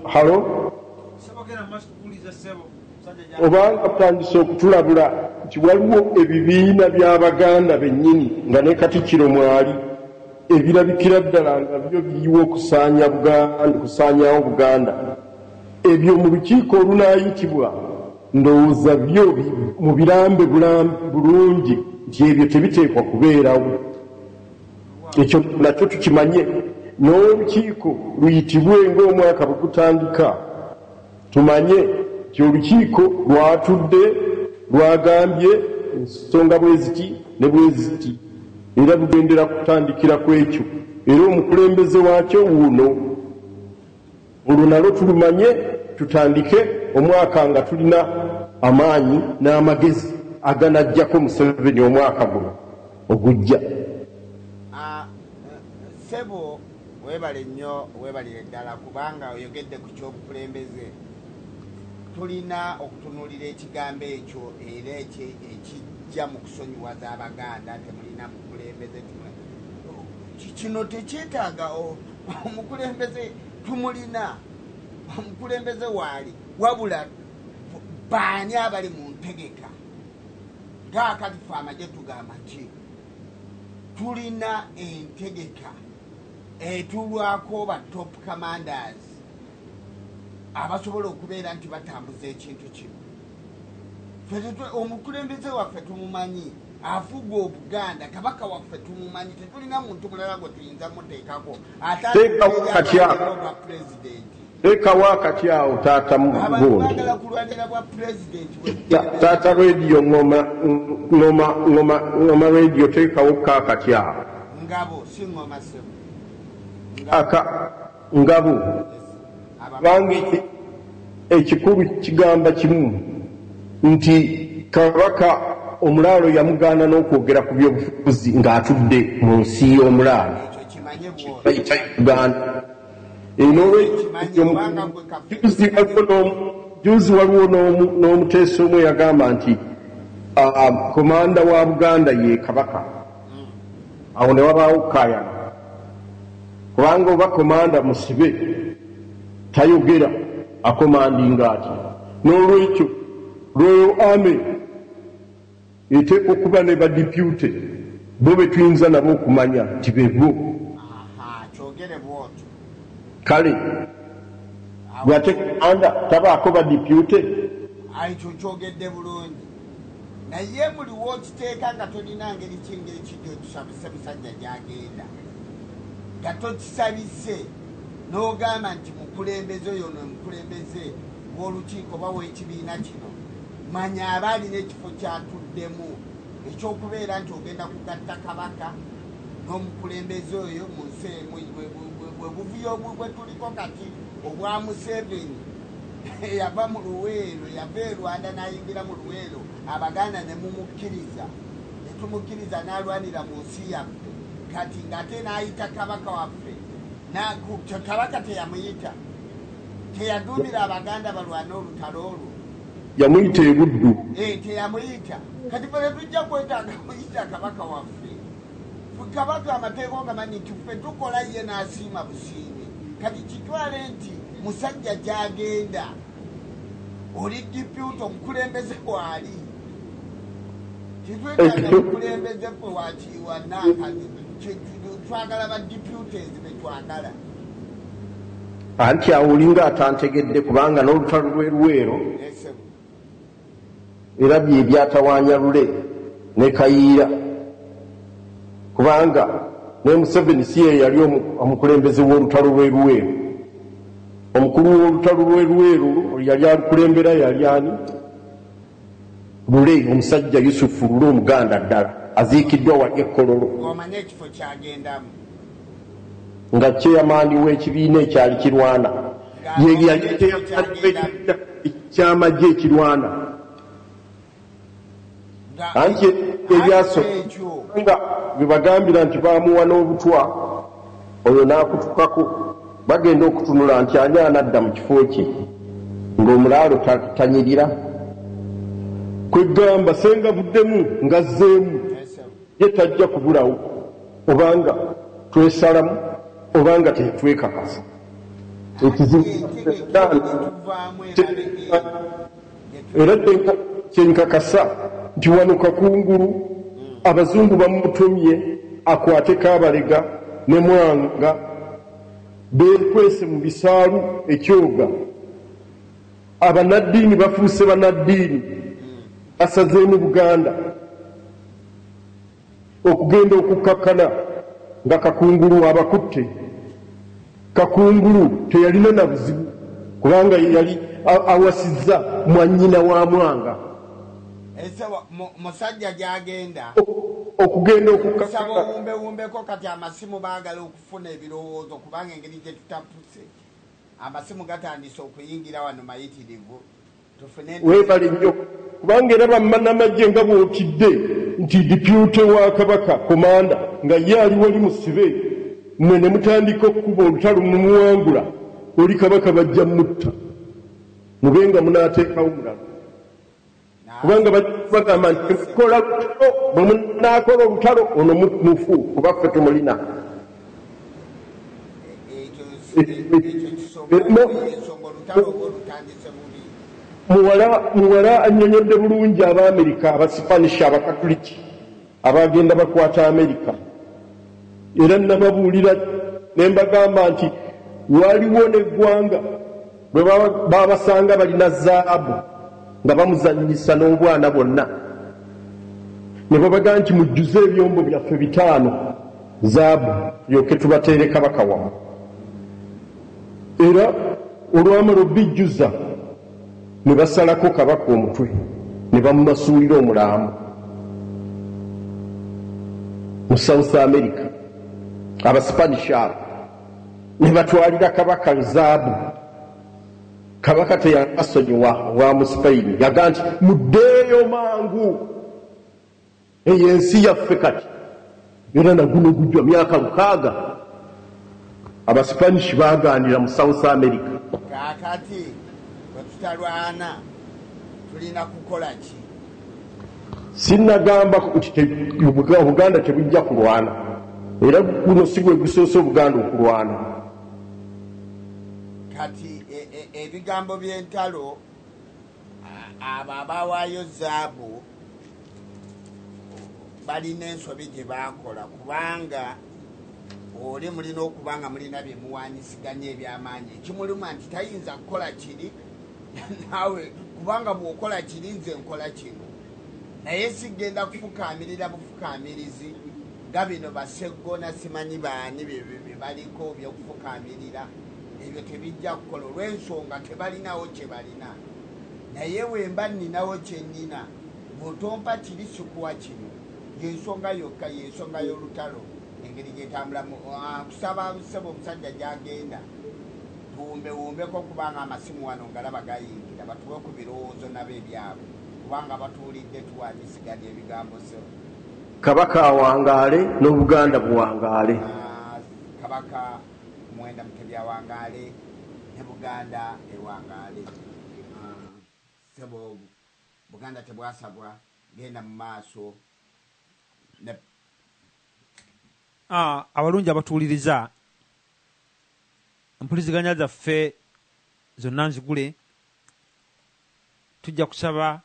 halo obanga butandise okutulabula nti waliwo ebibiina by'abaganda bennyini nga ne katikkiro mwali ebirabikira ddala nga byo biyiwa okusaanya buganda okusaanyawo buganda ebyo mu lukiiko olunaayitibwa ndowooza byo mu birambe bulungi nti ebyo tebiteekwa kubeerawo ekyo nakyo tukimanye n'olukiiko luyitibwe ng'omwaka bwe gutandika tumanye nti olukiiko lwatudde lwagambye ensonga bwe ziti ne bwe ziti era lugendera kutandikira ku ekyo era omukulembeze waakyo wuuno Olwo nalwo tulumanye tutandike omwaka nga tulina amaanyi n'amagezi aganajjako Museveni omwaka guno ogujja. Ssebo webale nnyo webalire ddala kubanga oyogedde ku ky'obukulembeze. Tulina okutunuulira ekigambo ekyo era ekyo ekijja mu kusonyiwaza Abaganda temulina mukulembeze kino tekyetaaga omukulembeze tumulina omukulembeze waali wabula baani abali mu ntegeka ngaakati fe amagye tugamba ki tulina entegeka etulwako ba top commanders abasobola okubeera nti batambuza ekintu kino omukulembeze waffe tumumanyi afuga obuganda kabaka waffe tumumanyi tetulina muntu mulala gwe tuyinza muteekako ataaeapresidenti lekawo akati awo taata mugundi taata rediyo ngoma ngoma ngoma ngoma rediyo tekawo ka akati awo ngabo si ngoma sebo aka Ngabo abange ekikulu kigamba kimu nti Kabaka omulaalo yamugaana n'okwogera ku byobufuzi ng'atudde mu nsi y'omulaalo bayita Uganda. Juzi waliwo n'omuteesa omu eyagamba nti komanda wa Buganda ye Kabaka. awo ne wabaawo okukaayana kubanga oba komanda musibe tayogera akomandinga atya n'olwekyo lweyo ame eteeka okuba ne badipute bo betuyinza nabo okumanya nti bebo kale bwate anda tabaako badipute naye buli wokiteeka nga tolina ngeri ki ngaekijja otusabise musajja gyagenda nga tokisabise n'ogamba nti mukulembeze oyo no mukulembeze wolukiiko oba wekibiina kino manya aba alina ekifo kyatuddemu ekyokubeera nti ogenda kugatta kabaka n'omukulembeze oyo mu nsi emu webuvuyo bwetuliko kati obwa museveni eyava mu luweero yava e rwanda n'ayingira mu luweero abaganda ne mumukkiriza ne tumukkiriza n'alwanira mu nsi yaffe kati ng'ate n'ayita kabaka waffe kabaka teyamuyita teyaduumira abaganda balwana olutalo olwo yamuyita ebuddu eh, teyamuyita kati fe tetujja kwetaaga muyita kabaka waffe kabaka amateeka ogamanyi nti ffe tukola ye n'asiima busiimi kati kitwale nti musajja gyagenda oli diputa omukulembeze waali titwetaaga mukulembeze ffe wakiiwa naakazi twagala ba diputes betwagala anti awo olinga atantegedde kubanga n'olutalo lw'eruweero era bye byatawaanya Lule ne Kayiira kubanga ne Museveni si ye yali omukulembeze w'olutalo lw'e Luweero. Omukulu w'olutalo lw'e Luweero yali alukulembera yali ani? Lule, omusajja Yusufu Lule Omuganda ddala aziikiddwa wali e Kololo. Ng'omanyi ekifo ky'agendamu. nga chairman w'ekibiina ekyali kirwana ye yali chairman w'ekibiina eky'amagye ekirwana anti ebyaso nga bebagambira nti bamuwa n'obutwa oyo n'akutukako bagenda okutunula nti ani anadda mu kifo kye ng'omulaalo tanyirira kwegamba senga buddemu ngazzeemu Ye tajja kubulawo obanga twesalamu obanga tetwekakasa. Ekizibu era kyenkakasa nti wano kakungulu abazungu bamutumye akwateko abalega ne mwanga bekwese mu bisaalu ekyoga. Abanaddiini bafuuse banaddiini asazeemu Buganda okugenda okukkakkana nga Kakungulu abakutte. Kakungulu teyalina na buzibu kubanga yali awasizza mwannyina wa Mwanga. Ese musajja gy'agenda okugenda okukakkana. Obumbewumbeko kati amasimu baagala okufuna ebirowoozo kubanga engeri gye tutapuse. Amasimu gatandise okuyingira wano mayitirivu tufune. Webale nnyo kubanga era bamanamagye nga bwotidde nti depute wa kabaka komanda nga ye ali wali musibe mwe ne mutandika okukuba olutalo mumuwangula oli kabaka bajja mutta mube nga munateekawo mulala. kubanga bagamba nti kola lutalo bwe munaakola olutalo ono mufu kuba ffe tumulina muwala anyonyodde bulungi abaamerika abasipanishi abakatuliki Abaagenda bakwata Amerika era nnababuulira ne mbagamba nti waliwo n'eggwanga bwe baabasanga balina zaabu nga bamuzannyisa n'obwana bwonna ne babaga nti mujjuze ebyombo byaffe bitaano zaabu yoke tubateere kabaka wamu era olwamala obijjuza ne basalako kabaka omutwe ne bamumasuulira omulambo mu south america abasipanish abo ne batwalira kabaka zaabu kabaka teyakasonyiwa wa musipayini yaga nti muddeeyo mangu Eyo ensi yaffe kati era naguno gujwa myaka lukaaga abasipanish bagaanira mu south america. Kaakati bwe tutalwana tulina kukola ki? Sinnagamba nti Obuganda tebujja kulwana era guno si gwe gusoose Obuganda okulwana. Kati e, e, ebigambo by'entalo abo abawaayo zaabu balina ensobi gye baakola kubanga oli mulina okuba nga mulina bye muwanyisiganya ebyamaanyi ekimuluma nti tayinza kukola kiri naawe kubanga bw'okola kiri nze nkola kino naye sigenda kufukaamirira bufukaamirizi nga bino baseggona simanyi baani byebaliko byokufukaamirira ebyo tebijja kukola olw'ensonga tebalinawo kye balina naye wemba nninawo kye nnyina bw'otompa kiri sikuwa kino y'ensonga yokka y'ensonga y'olutalo engeri gyetambulamu ah, kusaba ssebo omusajja gyagenda tuwumbewumbeko kubanga amasimu wano ngalaba gayingira batuwe ku birowoozo nabo ebyabwe kubanga batuwulidde tuwanyisiganya ebigambo ssebo kabaka awangaale n'obuganda buwangaale ah, kabaka Muwenda Mutebi awangaale ne Buganda ewangaale. Ssebo Buganda tebwasagwa genda mu maaso ne. Abalungi abatuwuliriza empuliziganya zaffe zonna nzigule. Tujja kusaba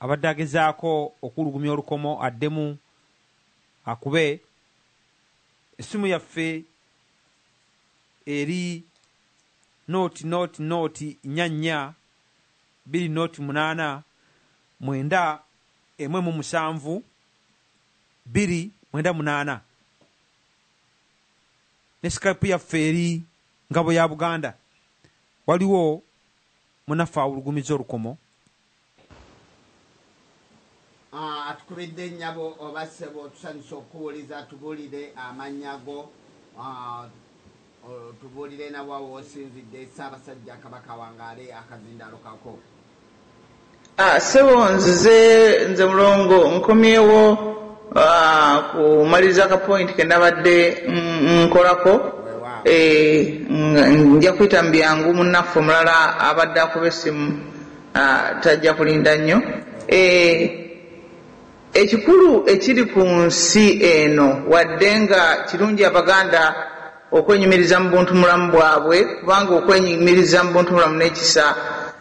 abadde agezaako okuwulugumya olukomo addemu akube. Essimu yaffe eri nooti nooti nooti nnya nnya bbiri nooti munaana mwenda emu emu musanvu bbiri mwenda munaana ne Skype yaffe eri Ngabo ya Buganda. Waliwo munaffe awulugumizza olukomo. Aah atukubidde nyabo oba ssebo tusanyuse okukuwuliza tubulire amannya go aah otubulire nawa wosinzidde Ssabasajja Kabaka awangaale akazindaalo kako. Ssebo nzize nze mulongo nkomyewo Ah, kumaliriza ka point kenabadde nkolako eh, nja kuyita mubyangu munaffe omulala abadde akuba essimu ah, tajja kulinda nnyo eh, ekikulu ekiri ku nsi eno wadde nga kirungi abaganda okwenyumiriza mu buntu mulamu bwabwe kubanga okwenyumiriza mu buntu mulamu n'ekisa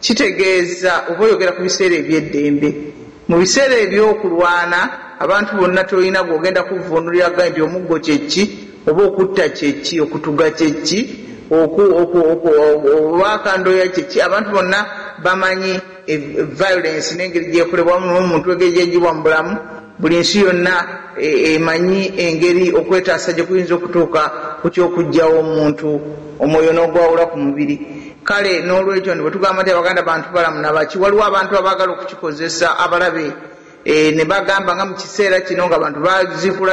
Kitegeeza oba oyogera ku biseera eby'eddembe. Mu biseera eby'okulwana abantu bonna tolina gw'ogenda kuvvuunulira ga nti omuggo kye ki, oba okutta kye ki, okutuga kye ki, oku, oku, oku, oba akandooya kye ki. Abantu bonna bamanyi violence n'engeri gy'ekolebwamu n'omuntu engeri gy'eggyibwa mu bulamu. Buli nsi yonna emanyi engeri okwetaasa gye kuyinza okutuuka ku ky'okuggyawo omuntu, omwoyo n'ogwawula ku mubiri. Kale n'olwekyo bwe tugamba nti Abaganda bantubalamu na baki, waliwo abantu abaagala okukikozesa abalabe ne bagamba nga mu kiseera kino ng'abantu baziikula.